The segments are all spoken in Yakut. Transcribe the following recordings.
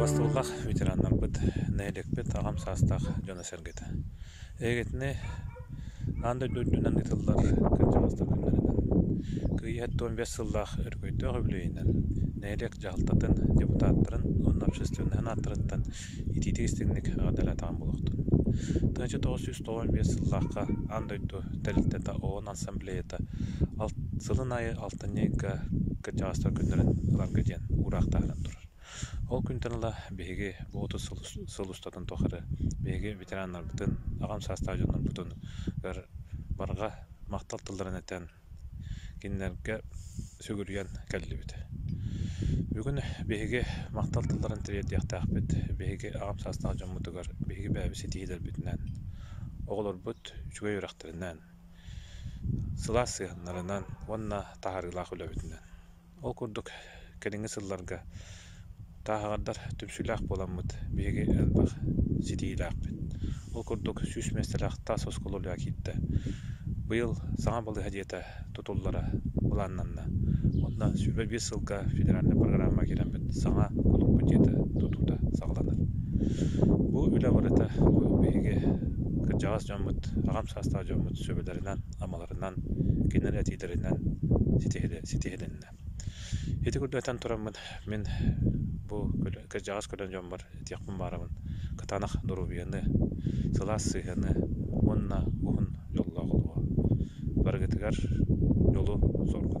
Бастылҕах ветераннарбыт, нэһилиэкпит аҕам саастаах дьоно-сэргэтэ. Эйигитини аан дойду үрдүнэн ыытыллар кырдьаҕастар күннэринэн, кыайыы тоҕус биэс сыллаах өрөгөйдөөх үбүлүөйүнэн, нэһилиэк дьаһалтатын депутаттарын уонна общественнай санааттарыттан Итиитик истиҥник эҕэрдэлээтэҕим буолуохтун. Тыһыынча тоҕус сүүс тоҕус биэс сыллаахха аан дойду тэрилтэтэ ООН ассамблеята алт сылын аайы алтынньы ыйга кырдьаҕастар күннэрин ыларга диэн уураахтааһынан турар. Ол күнтэн ыла биһиги бу отут сыл, сыл устатын тухары биһиги ветераннарбытын, аҕам саастаах дьоннорбутун барҕа махтал тылларын этэн Кинилэргэ сүгүрүйэн кэллибит. Бүгүн биһиги махтал тылларын тириэрдиэхтээхпит биһиги аҕам саастаах дьоммутугар, биһиги бэйэбит ситиһиилэрбитинэн, оҕолорбут үчүгэй үрэхтэринэн, сылаас сыһыаннарынан уонна таһаарыылаах үлэбитинэн. Ол курдук кэлиҥҥи сылларга тааһаҕардар түмсүүлээх буоламмыт биһиги элбэх ситиһиилээхпит. Ол курдук сүүс миэстэлээх таас оскуола үлэҕэ киирдэ. Быйыл саҥа балыыһа дьиэтэ тутуллара былааннанна. Онно сүүмэ биир сылга федеральнай программа киирэммит саҥа кулууппут дьиэтэ тутуута саҕаланар. Бу үлэ барыта биһиги кырдьаҕас дьоммут, аҕам саастаах дьоммут сүбэлэринэн амаларынан, кинилэр этиилэринэн ситиһилиннэ. Ити курдук этэн тураммын, мин бу кырдьаҕас көрөн дьоммор этиэхпин баарабын, кытаанах доруобуйаны, сылаас сыһыаны уонна уһун дьоллоох олоҕу. Барыгытыгар дьолу, соргу.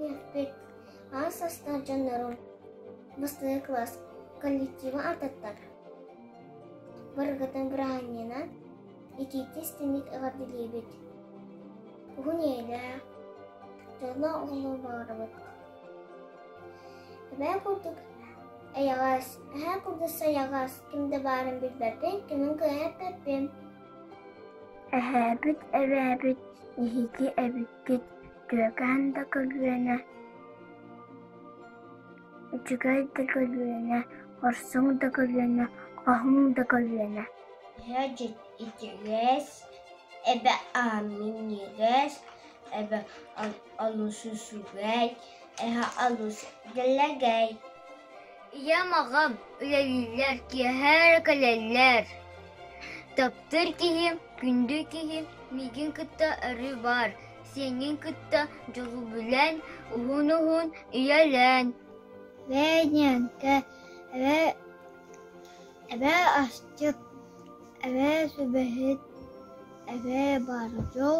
Үһүспүт аҕыс састаах дьоннорун бастакы кылаас коллектива ардаттар. Барыгытын бырааһынньана итиитэ истиҥник эҕэрдэлиибит. Уһун ийэлээх, дьоллоох оҕолор баҕарабыт. Эбээ курдук эйэҕэс, эһээ курдук сайаҕас, ким да баарын билбэппин, кимин кыайаттарбын. Эһээбит, эбээбит, эһиги эбиккит Күөкээн да көлүөнэ, үчүгэй да көлүөнэ, хорсуҥ да көлүөнэ, хоһуҥ да көлүөнэ Иһэдьит итигэс, эбэ ааминьигэс, эбэ олус үчүгэй, эһэ олус дэлэгэй. Ийэм аҕам үлэлииллэр киэһэр кэлэллэр. Таптыр киһим, күндү киһим, миигин кытта өрүү баар Сиҥҥин кытта дьулубулээн, уһун-уһун үйэлээн Венян, тэ эбэ эбээ астык, эбээ сүбэһит, эбээ бардьо,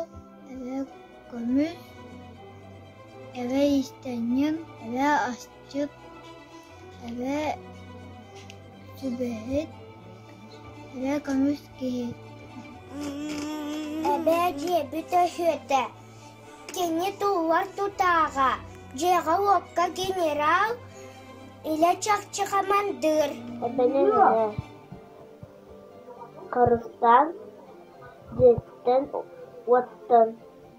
эбээ көмүс, эбээ истэҥҥин, эбээ астык Кырдьык, эбэ сүбэһит, эбэ көмүс киһи. Эбээ дьиэбит өһүөтэ. Кини туллар тутааҕа, дьиэҕэ-уокка генерал, илэ чахчы хамандыыр. Эбэни мэнэ харыстаан, дьиэттэн-уоттан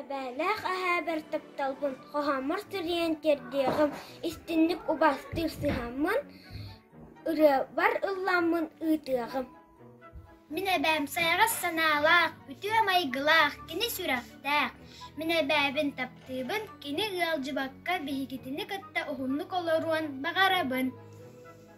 Эбээлээх эһээбэр тапталбын, хоһооммор сirийэн тиэрдиэҕим, истинник убастыыр сыһаммын, ырыабар ылламмын ыытыаҕым Мин эбээм сайаҕас санаалаах, үтүө майгылаах, кини сүрэхтээх. Мин эбээбин таптыыбын, кини ыалдьыбакка биһигитини кытта уһуннук олоруон баҕарабын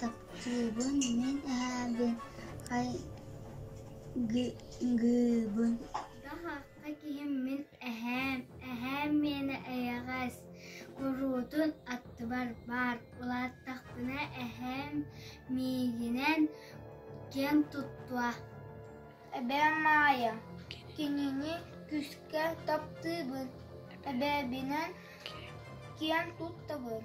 Таптыыбын мин эһэбин хайгыыбын мин эһээм эһээм миэнэ эйэҕэс куруутун аттыбар баар улааттахпына эһээм миигинэн киэн туттуо эбээм Маайа кинини күүскэ таптыыбын эбээбинэн киэн туттабын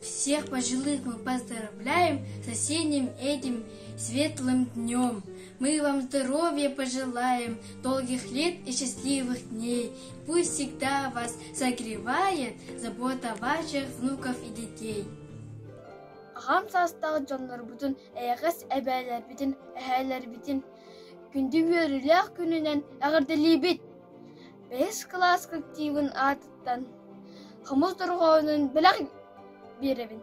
Всех пожилых мы поздравляем соседним этим светлым днем. Мы вам здоровья пожелаем, долгих лет и счастливых дней. Пусть всегда вас согревает забота ваших внуков и детей. Аҕам саастаах дьоннорбутун, эйэҕэс эбээлэрбитин, эһээлэрбитин күндү үөрүүлээх күнүнэн эҕэрдэлиибит! Бэһис кылаас коллективын аатыттан хомус дорҕоонун бэлэх биэрэбин.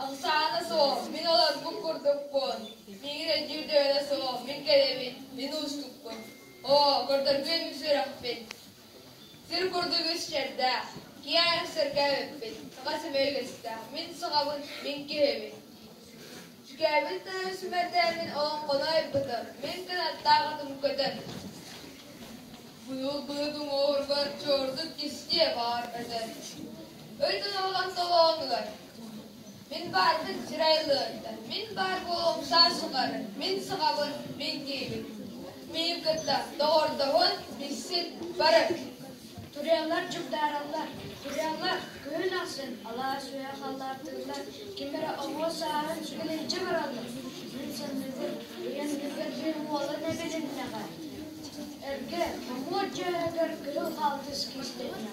Ыксаана суох, мин олорбут курдукпун. Миигин өйдүүр дьүөрэ суох, мин кэлэбин, мин уустукпун. Оо, көрдөргүөм үс үрэхпин. Сир курдук үс чэрдээх, киэһэ сиргэ үппүт, саха сэмэ үгэстэ, мин саҕабын, мин киһибин. Сүкээбин да сүмэрдээмин олоҥхону айбытым, мин кынаттаах атым көтөн. Быйыл быйылгын оҕургар чордук кистиэ баар өтөн. Өй толоҕон толоонулар, Мин баарбын сирэ ылыахтар, мин баар буолуом саа суҕар, мин саҕабын мин диибин. Миин кытта доҕордоһун, билсин, барык. Туруйалар дьugдаараллар, туруйалар күһүн ахсын алаас үһэ халлааттыыллар, ким эрэ оҕуо сааһын сүгэлэйдьэ бараллар. Мин саныыбын, ыйан бүгэр диэн уолан эбилиннэҕэ. Эргэ, номуот дьөөһөгөр кыһыл хаалтыс кистэннэҕэ.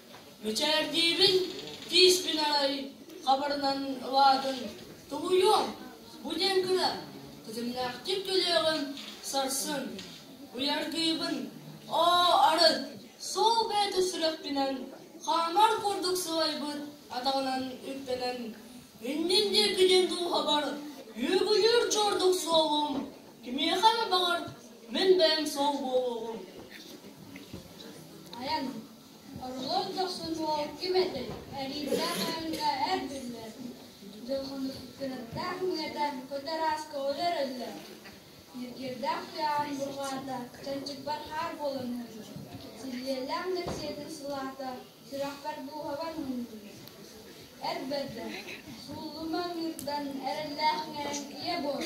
Мичээрдиибин тиис күн аайы хабарынан ылаатын тоһуйуом, бу диэн гына тэтимнээхтик көлүөҕүм сарсын, уйаргыыбын оо арыт сол бэйэтэ сүрэхпинэн хаамар курдук сылайбыт атаҕынан үктэнэн иннин диэки диэн дууһабар үөгүлүүр чордук суолум кимиэхэ эмэ баҕар мин бэйэм суол буолуоҕум. Айан Оҕолор дохсутугар ким этэй? Эриирдээх ааһыыга эрбиллэр. Дьокуускайтан уйата көтөрөөс көҕүлэр өллөр. Ньиргиэрдээх тыаһын бурҕаата, чанчыкпар хаар буолан өллө. Силлиэлээх нэпсиэтин сылаата, сүрэхпэр дууһабар мунньуллар. Эр бэрдэ, сууллума ыҥыырдан эрэллээх мэҥ ийэ буол.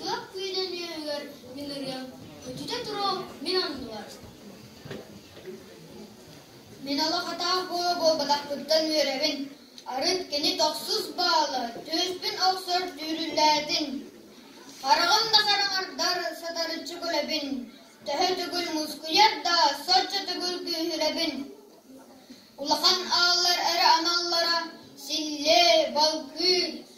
Туох күүнэ нүөһүгэр мин ырыам, өтүтэ туруом мин анныбар. Мин ала хатаа буола буолбатахпыттан үөрэбин, арын кини тохсус баала түөспүн охсор дүүрүлээтин. Хараҕын да хараҥардар сатарыччы күлэбин, төһө төгүл мускуйар да соччо төгүл күүһүрэбин. Улахан ааллар эрэ аналлара силлээ, балкыы,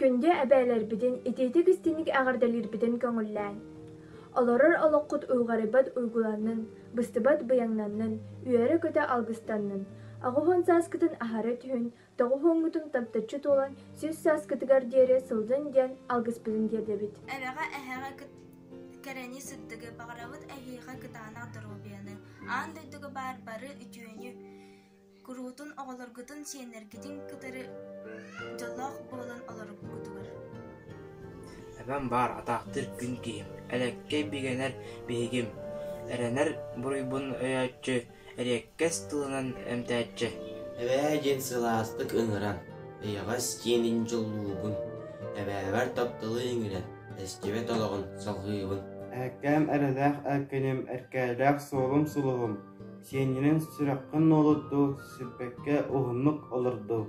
Күндү эбээлэрбитин итиитик-истиник эҕэрдэлиирбитин көҥүллээҥ! Олорор олоххут уйҕарыйбат уйгуланнын, быстыбат быйаҥнаннын, үөрэ-көтө алгыстаннын, аҕыһын сааскытын аһары түһүн, тоҕуһуоҥҥутун таптаччы туолан сис сааскытыгар диэри сылдьын диэн алгыспытын тиэрдэбит. Эрэҕэ-эһэҕэ кэрэни сырдыгы, баҕарабыт эһиэхэ кытаанах доруобуйаны, аан дойдуга баар бары үтүөнү, куруутун оҕолоргутун сиэннэргитин кытары дьоллоох буолан олоруккутугар эбэм баар атаахтыыр күн киһим элэккэй бигэнэр биһигим эрэнэр буруйбун өйөөччү эриэккэс тылынан эмтээччи эбээ диэн сылаастык ыҥыран эйэҕэс диэнин дьоллуубун эбээбэр тапталы иҥирэн эстибэт олоҕун салҕыыбын эккээм эрэлээх эркиним эркээлээх суолум сулуһум Сиэнньинэн сүрэххин нуолуттуу, сирбэккэ уһуннук олордуу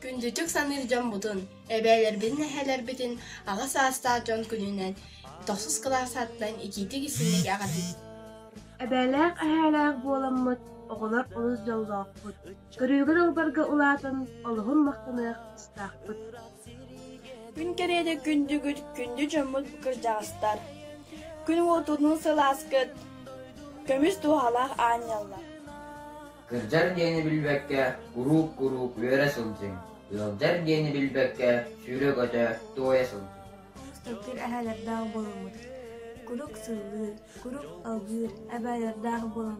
Күндүтүк саныыр дьоммутун, эбээлэрбин нэһээлэрбитин аҕа саастаах дьон күнүнэн тохсус кылаасаттан икиитик истиҥник аҕатыт. Эбээлээх-эһээлээх буоламмыт оҕолор олус дьоллоохпут. Көрүүгэр ылбарга улаатан, олоһун махтаныах тустаахпыт. Күн кэриэтэ күндүгүт, күндү дьоммут кырдьаҕастар. Күн уотунуу сылааскыт, көмүс туоһалаах аанньаллар. Кырдьар диэни билбэккэ куруук-куруук үөрэ сылдьыҥ. Ыалдьар диэни билбэккэ сүүрэ-көтө туойа сылдьыҥ. Сырдык эһээлэрдээх буоламмыт. Куруук сыллыыр, куруук алгыыр, эбээлэрдээх буолан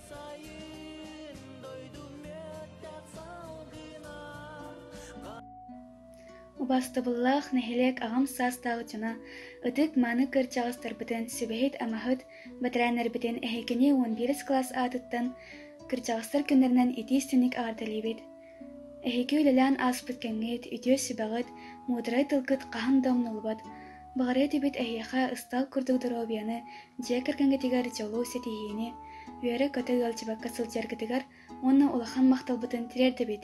сайын дойду мүөттэх салгына Убастыбыллаах нэһилиэк аҕам саастаах дьоно ытык-мааны кырдьаҕастарбытын сүбэһит-амаһыт бэтэрээннэрбитин эһикини уон биэс кылаас аатыттан кырдьаҕастар күннэринэн итии-истиник аҕардалиибит Эһиги үлэлээн ааспыт кэҥиит, үтүө сүбэҕит, муударай тылгыт хаһан да умнуллубат. Баҕарыа этибит эһиэхэ ыстаал курдук доруобуйаны, дьиэ кэргэҥҥитигэр дьолу, ситиһиини, үөрэ-көтө ыалдьыбакка сылдьаргытыгар уонна улахан махталбытын тириэрдэбит.